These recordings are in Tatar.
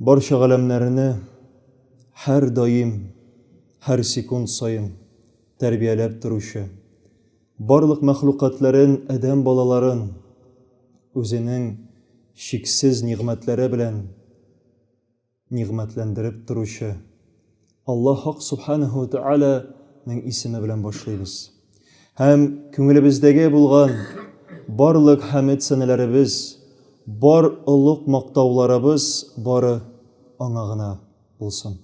Барча галәмнәрне һәр даим, һәр секунд саен тәрбияләп торучы, барлык мәхлукатләрен, адәм балаларын үзенең чиксез нигъмәтләре белән нигъмәтләндереп торучы, Аллаһ Хак Субханәһү вә Тәгалә нең исеме белән башлыйбыз. Һәм күңелебездәге булган барлык хәмед сәнәләребез, бар олуг мактауларыбыз бары Аңа гына булсын.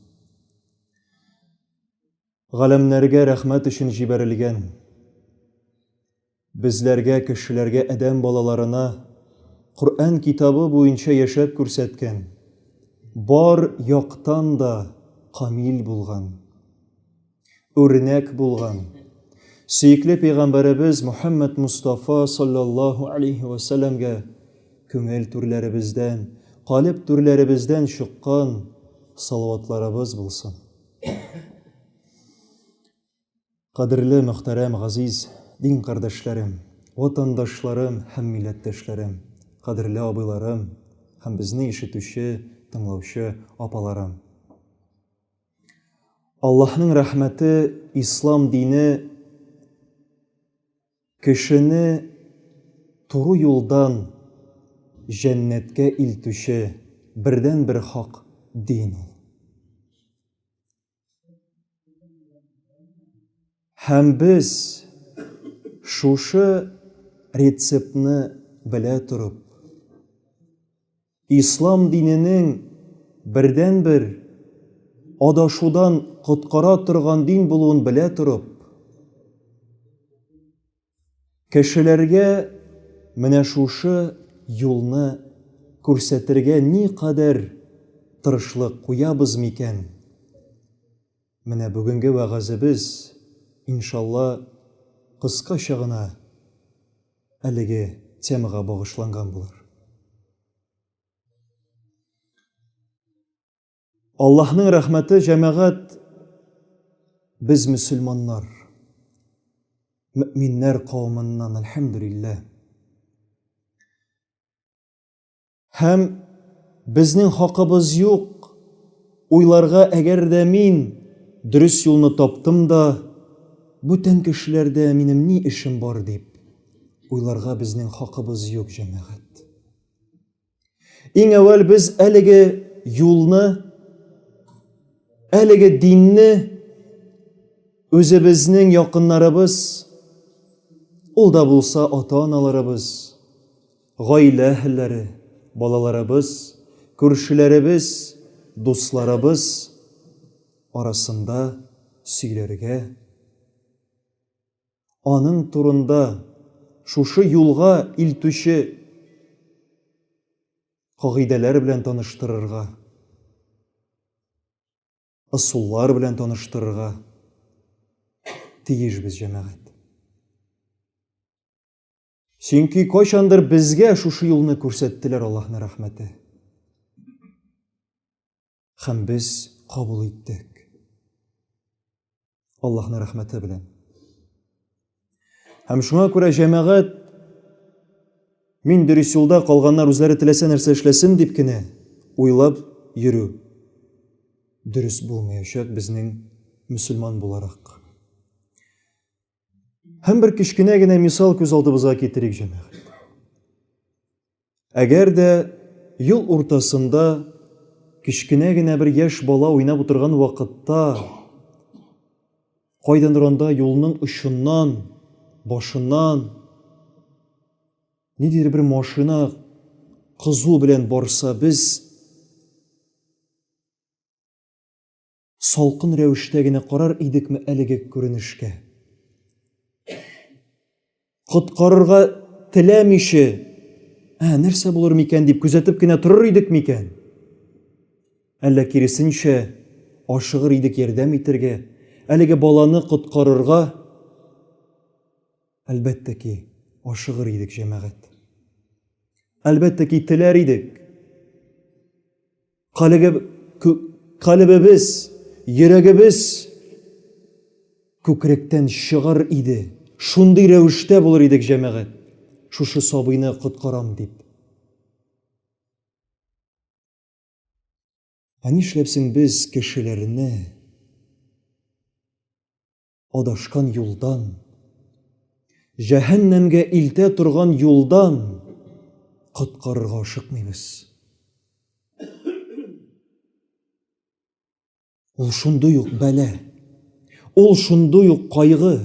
Галәмнәргә рәхмәт өчен җибәрелгән. Безләргә, кешеләргә, адәм балаларына Коръән китабы буенча яшәп күрсәткән, бар яктан да камил булган, үрнәк булган сөекле пәйгамбәребез Мөхәммәд Мустафа салләллаһу алейһи вә сәлләмгә күңел түрләребездән, калеб түрләребездән чыккан салаватларыбыз булсын. Кадерле, мөхтәрәм, газиз дин кардәшләрем, ватандашларым һәм милләттәшләрем, кадерле абыйларым һәм безне ишетүче, тыңлаучы апаларым! Аллаһның рәхмәте, ислам дине кешене туры юлдан җәннәткә илтүче бердәнбер хак дин ул. Һәм без, шушы рецептны белә торып, ислам диненең бердәнбер адашудан коткара торган дин булуын белә торып, Кешеләргә менә шушы юлны күрсәтергә никадәр тырышлык куябыз микән? Менә бүгенге вәгазебез, иншалла, кыскача гына әлеге темага багышланган булыр. Аллаһның рәхмәте җәмәгать без мөселманнар, мөминнәр кавымыннан, әлхәмдүлилләһ. Һәм безнең хакыбыз юк, уйларга әгәр дә мин дөрес юлны таптым да, бүтән кешеләрдә минем ни эшем бар дип, уйларга безнең хакыбыз юк, җәмәгать. Иң әүвәл без әлеге юлны, әлеге динне үзебезнең якыннарыбыз, ул да булса ата-аналарыбыз, гаилә әһелләре, балаларыбыз, күршеләребез, дусларыбыз арасында сөйләргә Аның турында шушы юлга илтүче кагыйдәләр белән таныштырырга, ысуллар белән таныштырырга тиешбез, җәмәгать. Чөнки кайчандыр безгә шушы юлны күрсәттеләр Аллаһны рәхмәте. Хәм без кабул иттек. Аллаһны рәхмәте белән. Хәм шуңа күрә җәмәгать мин дөрес юлда калганнар үзләре теләсә нәрсә эшләсен дип кенә уйлап йөрү дөрес булмаячак безнең мөселман буларак. Һәм бер кечкенә генә мисал күз алдыбызга китерик, җәмәгать. Әгәр дә юл уртасында кечкенә генә бер яшь бала уйнап утырган вакытта кайдан ранда юлның очыннан, башыннан ниндидер бер машина кызу белән барса, без Салкын рәвештә генә карар идекме әлеге күренешкә? Коткарырга теләмиче, ә, нәрсә булыр микән дип күзәтеп кенә торыр идек микән? Әллә киресенчә, ашыгыр идек ярдәм итергә, әлеге баланы коткарырга? Әлбәттә ки, ашыгыр идек, җәмәгать. Әлбәттә ки, теләр идек. Калебебез, йөрәгебез күкректән чыгар иде. Шундый рәвештә булыр идек, җәмәгать. Шушы сабыйны коткарам дип. Ә нишләп соң без кешеләрне адашкан юлдан, җәһәннәмгә илтә торган юлдан коткарырга ашыкмыйбыз. Ул шундый ук бәлә, ул шундый ук кайгы.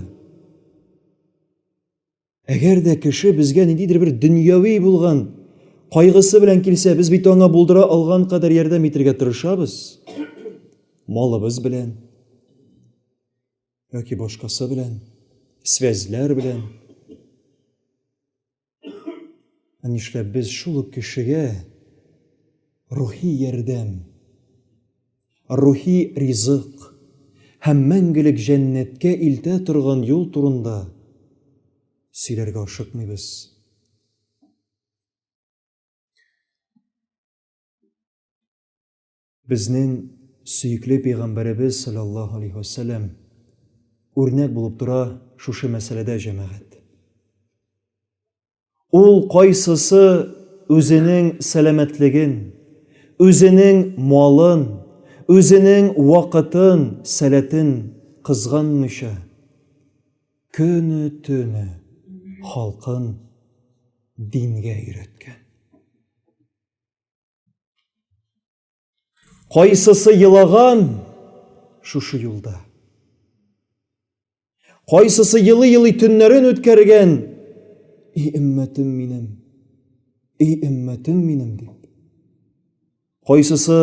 Әгәр дә кеше безгә ниндидер бер дөньяви булган кайгысы белән килсә, без бит аңа булдыра алган кадәр ярдәм итергә тырышабыз. Малыбыз белән яки башкасы белән, связьләр белән. Ә нишләп без шул ук кешегә рухи ярдәм Рухи ризык һәм мәңгелек җәннәткә илтә торган юл турында сөйләргә ашыкмыйбыз. Безнең сөекле пәйгамбәребез саллаллаһу алейһи ва сәлләм үрнәк булып тора шушы мәсьәләдә җәмәгать. Ул кайсысы үзенең сәламәтлеген, үзенең малын, үзенең вакытын, сәләтен кызганмыйча, көне-төне халкын дингә өйрәткән? Кайсысы елаган шушы юлда? Кайсысы елый-елый төннәрен үткәргән? И өммәтем минем, и өммәтем минем дип. Кайсысы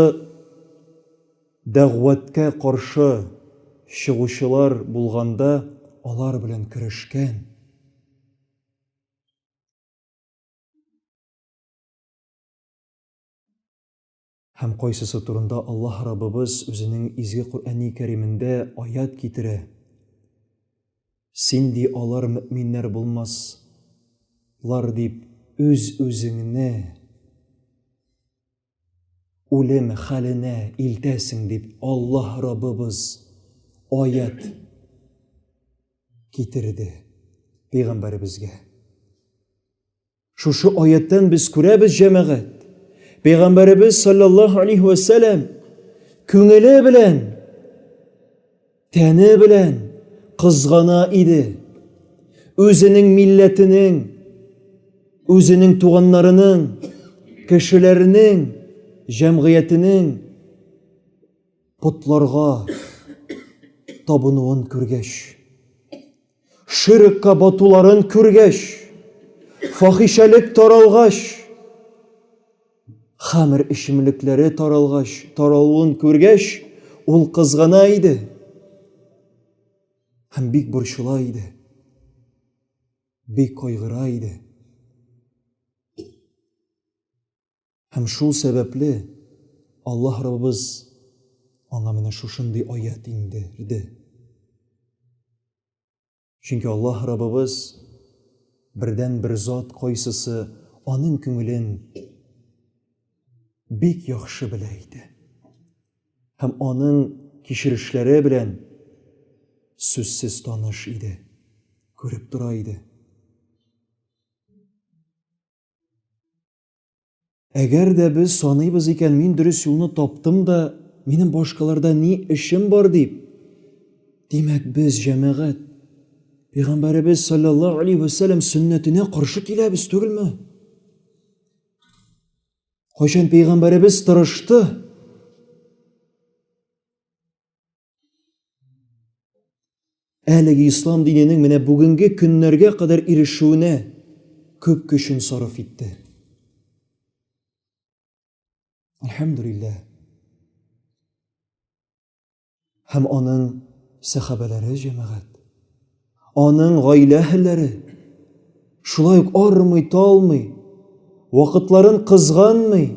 дәгъвәткә каршы чыгучылар булганда алар белән көрәшкән? Һәм кайсысы турында Аллаһ Раббыбыз Үзенең изге Коръәни Кәримендә аять китерә, Син, ди, алар мөэминнәр булмас лар дип үз-үзеңне үлем хәленә илтәсең дип Аллаһ Раббыбыз аять китерде пәйгамбәребезгә. Шушы аяттан без күрәбез, җәмәгать, Пәйгамбәребез саллаллаһу алейһи ва сәлам күңеле белән, тәне белән кызгана иде. Үзенең милләтенең, үзенең туганнарының, кешеләренең, җәмгыятенең потларга табынуын күргәч, Ширкка батуларын күргәч, фахишәлек таралгач, хамер эчемлекләре таралгач, таралуын күргәч, ул кызгана иде һәм бик борчыла иде, бик кайгыра иде. Һәм шул сәбәпле, Аллаһ Раббыбыз аңа менә шушындый аять иңдерде. Чөнки Аллаһ Раббыбыз бердәнбер зат, кайсысы аның күңелен бик яхшы белә иде. Һәм аның кичерешләре белән сүзсез таныш иде, күреп тора иде. Әгәр дә без саныйбыз икән, мин дөрес юлны таптым да, минем башкаларда ни эшем бар дип, димәк без җәмәгать Пәйгамбәребез саллаллаһу алейхи ва сәлләм сөннәтенә каршы киләбез түгелме? Кайчан пәйгамбәребез тырышты? Әлеге ислам диненең менә бүгенге көннәргә кадәр ирешүенә күп көчен сарыф итте. Әлхәмдүлиллә. Һәм аның сәхабәләре җәмәгать, аның гаилә әһелләре шулай ук армый, талмый, вакытларын кызганмый,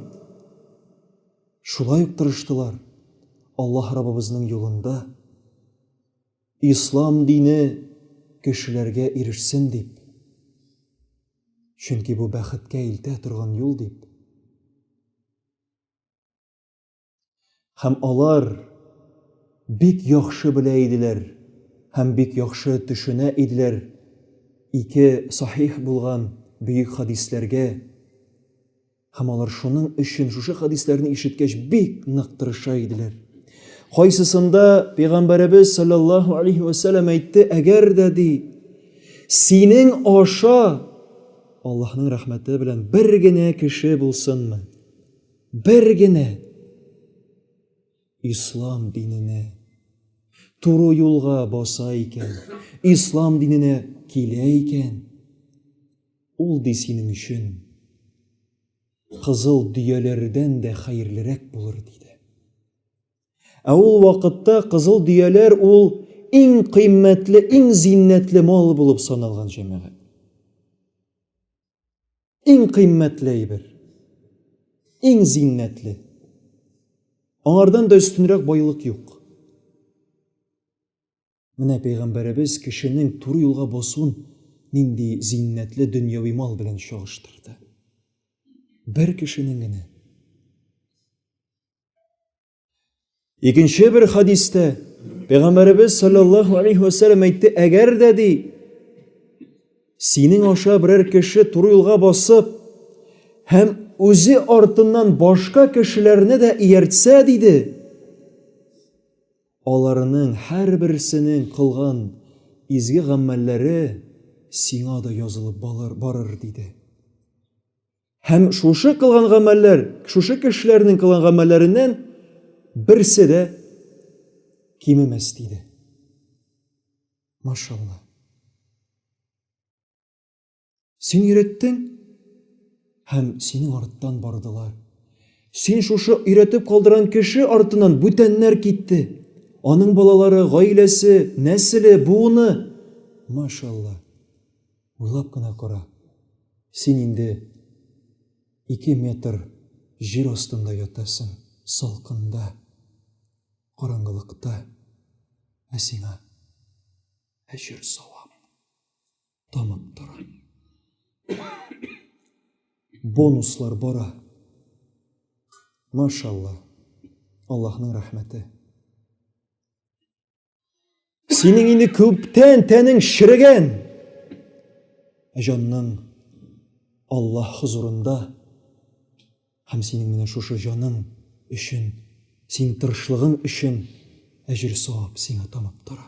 Шулай ук тырыштылар, Аллаһ Раббыбызның юлында Ислам дине кешеләргә ирешсен дип, чөнки бу бәхеткә илтә торган юл дип. Һәм алар бик яхшы белә иделәр һәм бик яхшы төшенә иделәр ике сахих булган бөек хәдисләргә, Һәм алар шуның өчен шушы хәдисләрне ишеткәч бик нык тырыша иделәр. Кайсысында пәйгамбәребез саллаллаһу алейхи ва саллям әйтте, әгәр дә ди, синең аша Аллаһның рәхмәте белән бер генә кеше булсынмы? Бер генә ислам диненә туры юлга баса икән, ислам диненә килә икән, Ул ди синең өчен кызыл дөяләрдән дә хәерлерәк булыр, диде. Ә ул вакытта кызыл дөяләр ул иң кыйммәтле, иң зиннәтле мал булып саналган җәмәгать. Иң кыйммәтле әйбер. Иң зиннәтле. Аңардан да өстенрәк байлык юк. Менә пәйгамбәребез кешенең туры юлга басуын нинди зиннәтле дөньяви мал белән чагыштырды. Бер кешенең генә. Икенче бер хадистә пәйгамбәребез саллаллаһу алейхи ва саллям әйтте, әгәр дә ди синең аша берәр кеше туры юлга басып һәм үзе артыннан башка кешеләрне дә ияртсә диде Аларның һәрберсенең кылган изге гамәлләре сиңа да язылып барыр, диде. Һәм шушы кылган гамәлләр, шушы кешеләрнең кылган гамәлләреннән берсе дә кимемәс, диде. Машалла. Син өйрәттең? Һәм синең арттан бардылар. Син шушы өйрәтеп калдырган кеше артыннан бүтәннәр китте. Аның балалары, гаиләсе, нәселе, буыны. Машалла. Уйлап кына кара. Син инде 2 метр җир астында ятасың, салкында, караңгылыкта. Ә сиңа әҗер савап. тамып тора. Бонуслар бара. Машалла. Аллаһның рәхмәте. Синең инде күптән тәнең ширегән. Ә җанның Аллаһ хозурында һәм синең менә шушы җаның өчен, син тырышлыгың өчен әҗер савап сиңа тамып тора.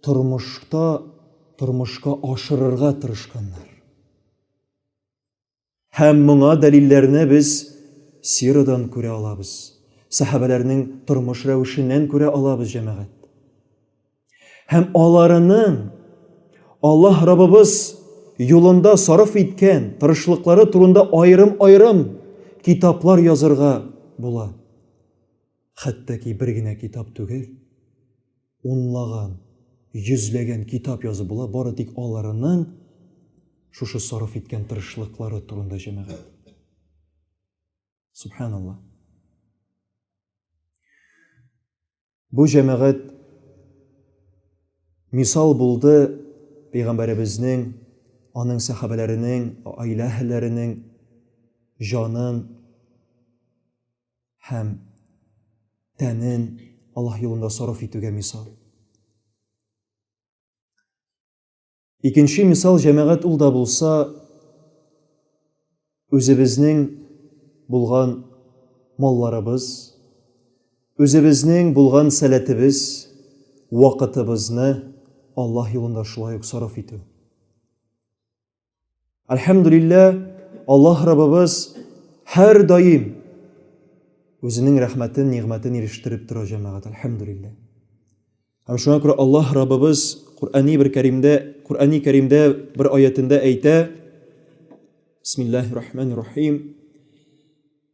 тормышта тормышка ашырырга тырышканнар. Һәм моңа дәлилләрне без сирадан күрә алабыз, сәхабәләрнең тормыш рәвешеннән күрә алабыз, җәмәгать. Һәм аларының Аллаһ Раббыбыз юлында сарыф иткән тырышлыклары турында аерым-аерым китаплар язырга була. Хәтта ки бер генә китап түгел. Унлаган, йөзләгән китап язып була, бары тик аларының шушы сарыф иткән тырышлыклары турында җәмәгать. Субханалла. Бу җәмәгать мисал булды пәйгамбәребезнең, аның сәхабәләренең, гаилә әһелләренең җанын һәм тәнен Аллаһ юлында сарыф итүгә мисал. Икенче мисал җәмәгать ул да булса үзебезнең булган малларыбыз, үзебезнең булган сәләтебез, вакытыбызны Аллаһ юлында шулай ук сарыф итү. Әлхәмдулиллә, Аллаһ Раббыбыз һәр даим үзенең рәхмәтен, нигъмәтен ирештереп тора җәмәгать. Әлхәмдулиллә. Һәм шуңа күрә Аллаһ Раббыбыз Куръани бер кәримдә, Куръани кәримдә бер аятендә әйтә: Бисмиллаһир-рахманир-рахим.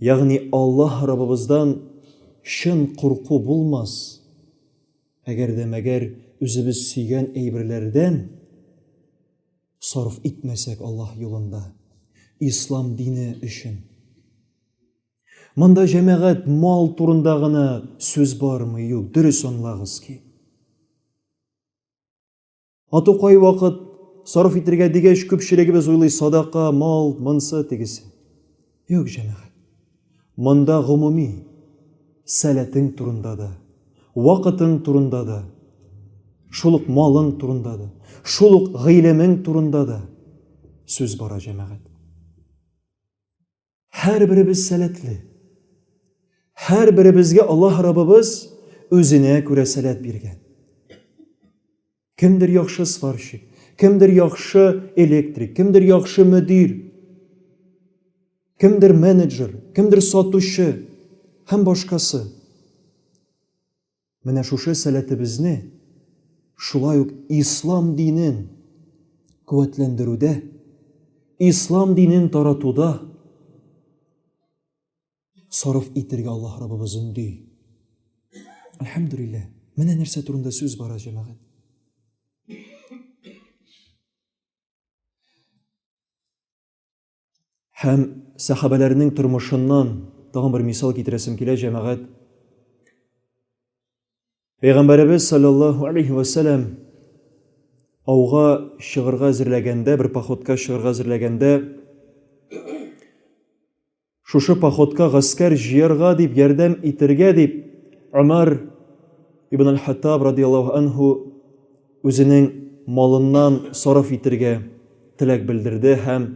Ягъни Аллаһ Раббыбыздан чын курку булмас, әгәр дә мәгәр үзебез сөйгән әйберләрдән сарыф итмәсәк Аллаһ юлында, Ислам дине өчен. Монда җәмәгать мал турында гына сүз бармый, юк, дөрес аңлагыз ки. Ату кай вакыт сарыф итергә дигәч, күпчелегебез уйлый садака, мал, монсы, тегесе. Юк, җәмәгать. Монда гомуми сәләтең турында да, вакытың турында да, шул ук малың турында да, шул ук гыйлемең турында да сүз бара, җәмәгать. Һәрберебез сәләтле. Һәрберебезгә Аллаһ Раббыбыз үзенә күрә сәләт биргән. Кемдер яхшы сварщик, кемдер яхшы электрик, кемдер яхшы мөдир, кемдер менеджер, кемдер сатучы һәм башкасы. Менә шушы сәләтебезне шулай ук ислам динен куәтләндерүдә, ислам динен таратуда сарыф итергә Аллаһ Раббыбыз өнди. Әлхәмдүлилләһ. Менә нәрсә турында сүз бара, җәмәгать. Һәм сәхабәләрнең тормышыннан тагын бер мисал китерәсем килә, җәмәгать. Пәйгамбәребез саллаллаһу алейхи ва саллям ауга чыгырга әзерләгәндә, бер походка чыгырга әзерләгәндә, шушы походка гаскәр җыярга дип, ярдәм итергә дип, Умар ибн аль-Хаттаб радияллаһу анху үзенең малыннан сарыф итергә теләк белдерде һәм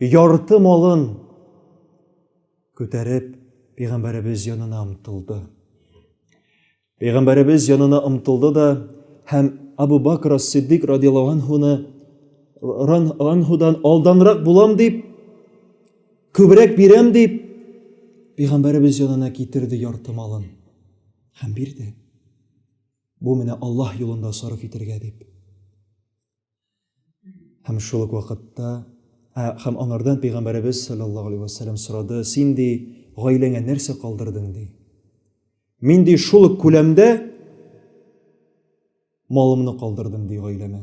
ярты малын күтәреп пәйгамбәребез янына омтылды. Пәйгамбәребез янына омтылды да һәм Абу Бакр ас-Сиддик радияллаһу анһуны анһудан алданрак булам дип, күбрәк бирәм дип, пәйгамбәребез янына китерде ярты малын һәм бирде. Бу менә Аллаһ юлында сарыф итәргә дип. Һәм шул ук вакытта ә, һәм аңардан пәйгамбәребез саллаллаһу алейхи вәсәлләм сорады, син ди гаиләңә нәрсә калдырдың ди? Мин ди шул ук күләмдә малымны калдырдым ди гаиләмә.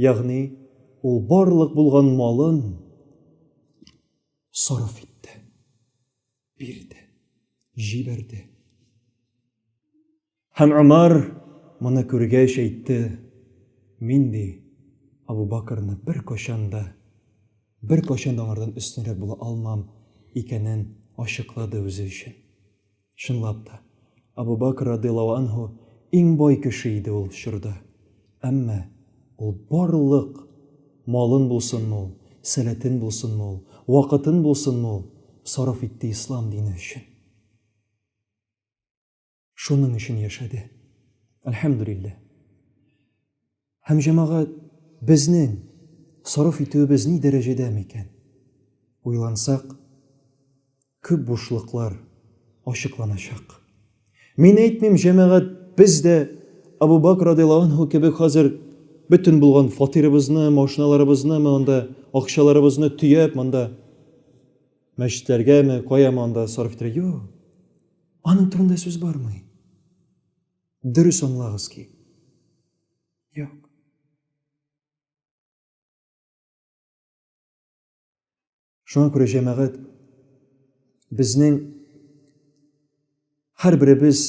Ягъни, ул барлык булган малын сарыф итте, бирде, җибәрде. Һәм Умар моны күргәч әйтте, мин ди Абу Бакрны бер кашан да бер кашан да аңардан өстенрәк була алмам икәнен ачыклады үзе өчен. Чынлап та, Абу Бакр радыяллаһу анһу иң бай кеше иде ул чорда. Әмма ул барлык малын булсынмы ул, сәләтен булсынмы ул, вакытын булсынмы ул сарыф итте ислам дине өчен. Шуның өчен яшәде. Әлхәмдүлилләһ. Һәм, җәмәгать, безнең сарыф итүебез ни дәрәҗәдә микән? Уйлансак, күп бушлыклар ачыкланачак. Мин әйтмим, җәмәгать, без дә Абу Бакр радиаллаһу анһу кебек хәзер бөтен булган фатирыбызны, машиналарыбызны, монда акчаларыбызны төяп, монда мәчетләргәме, каяма анда сарыф итәргә. Юк, аның турында сүз бармый. Дөрес аңлагыз ки. Юк. Шуңа күрә җәмәгать безнең һәр беребез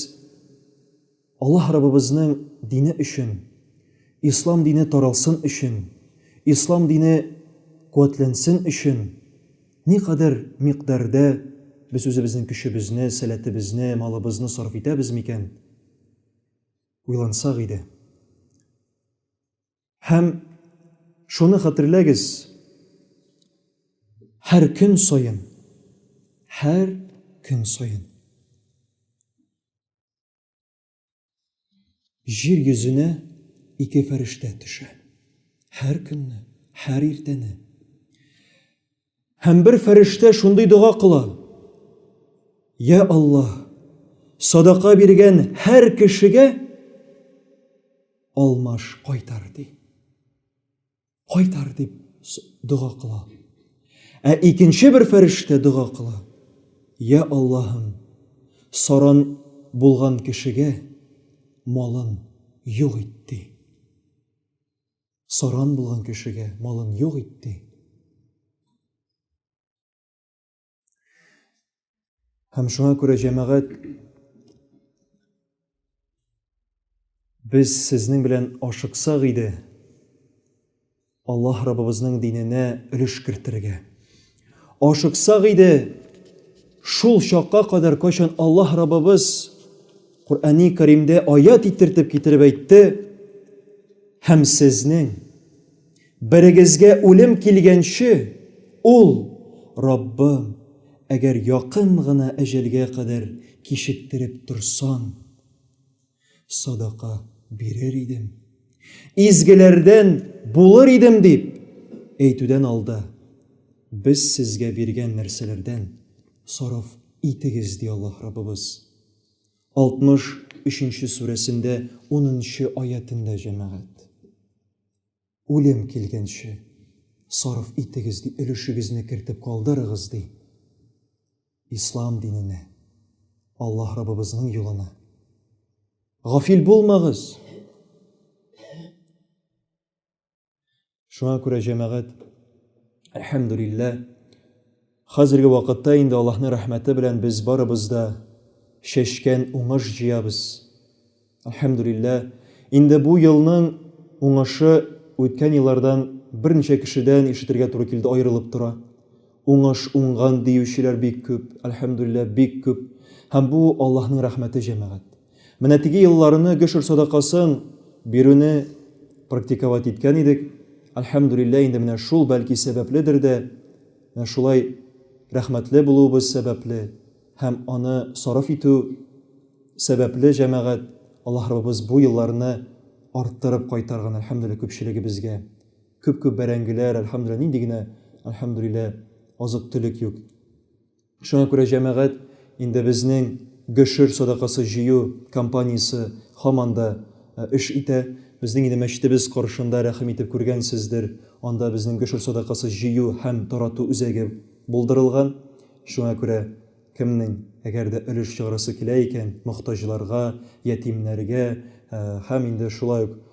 Аллаһ Раббыбызның дине өчен, ислам дине таралсын өчен, ислам дине куәтләнсен өчен Никадәр микъдәрдә без үзебезнең көчебезне, сәләтебезне, малыбызны сарыф итәбез микән? Уйлансак иде. Һәм шуны хәтерләгез, һәр көн саен, һәр көн саен Җир йөзенә ике фәрештә төшә. Һәр көнне, һәр иртәне. Һәм бер фәрештә шундый дога кыла. Я Аллаһ, садака биргән һәр кешегә алмаш кайтар ди. Кайтар дип дога кыла. Ә икенче бер фәрештә дога кыла. Я Аллаһым, саран булган кешегә малын юк итте. Саран булган кешегә малын юк итте. Һәм шуңа күрә җәмәгать без сезнең белән ашыксак иде Аллаһ Раббыбызның диненә өлеш кертергә. Ашыксак иде шул чакка кадәр кайчан Аллаһ Раббыбыз Коръәни Кәримдә аят итертеп китереп әйтте һәм сезнең Берегезгә үлем килгәнче, ул, Раббым, әгәр якын гына әҗәлгә кадәр кичектереп торсаң, садака бирер идем, изгеләрдән булыр идем дип әйтүдән алда, без сезгә биргән нәрсәләрдән сарыф итегез, ди Аллаһ Раббыбыз. 63 нче сүрәсендә унынчы аятендә, җәмәгать. Үлем килгәнче сарыф итегез, ди, өлешегезне кертеп калдырыгыз, ди. Ислам диненә, Аллаһ Раббыбызның юлына. Гафил булмагыз. Шуңа күрә җәмәгать, әлхәмдүлилләһ, Хәзерге вакытта инде Аллаһның рәхмәте белән без барыбыз да чәчкән уңыш җыябыз. Әлхәмдүлилләһ, инде бу елның уңышы үткән еллардан берничә кешедән ишетергә туры килде, аерылып тора. Уңыш, уңган диючеләр бик күп, әлхәмдүлилләһ, бик күп. Һәм бу Аллаһның рәхмәте, җәмәгать. Менә теге елларны гөшер садакасын бирүне практиковать иткән идек. Әлхәмдүлилләһ, инде менә шул, бәлки, сәбәпледер дә, Менә шулай рәхмәтле булуыбыз сәбәпле һәм аны сарыф итү сәбәпле, җәмәгать, Аллаһ Раббыбыз бу елларны арттырып кайтарган, әлхәмдүлилләһ, күпчелегебезгә. Күп-күп бәрәңгеләр, әлхәмдүлилләһ, нинди генә, әлхәмдүлилләһ, азык-төлек юк. Шуңа күрә, җәмәгать, Инде безнең Гөшер садакасы җыю кампаниясе һаман да эш итә. Безнең инде мәчетебез каршында, рәхим итеп күргәнсездер, анда безнең Гөшер садакасы җыю һәм тарату үзәге булдырылган. Шуңа күрә кемнең, әгәр дә өлеш чыгарасы килә икән, мохтаҗларга, ятимнәргә һәм инде шулай ук,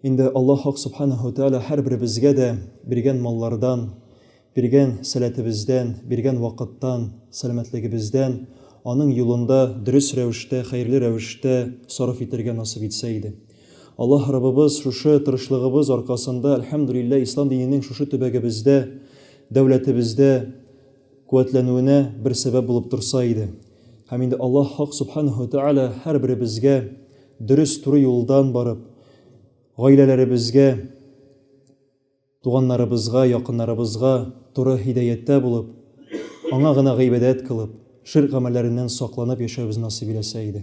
Инде Аллаһ Хак Субханаһу ва Тәгалә һәрберебезгә дә биргән маллардан, биргән сәләтебездән, биргән вакыттан, сәламәтлегебездән Аның юлында дөрес рәвештә, хәерле рәвештә сарыф итәргә насыйп итсә иде. Аллаһ Раббыбыз шушы тырышлыгыбыз аркасында, әлхәмдүлилләһ, Ислам диненең шушы төбәгебездә, дәүләтебездә, куәтләнүенә бер сәбәп булып торса иде. Һәм инде Аллаһ Хак Субханаһу ва Тәгалә һәрберебезгә дөрес, туры юлдан барып, гаиләләребезгә, туганнарыбызга, якыннарыбызга туры һидәяттә булып, Аңа гына гыйбадәт кылып, ширк гамәлләреннән сакланып яшәүебезне насыйп иләсә иде.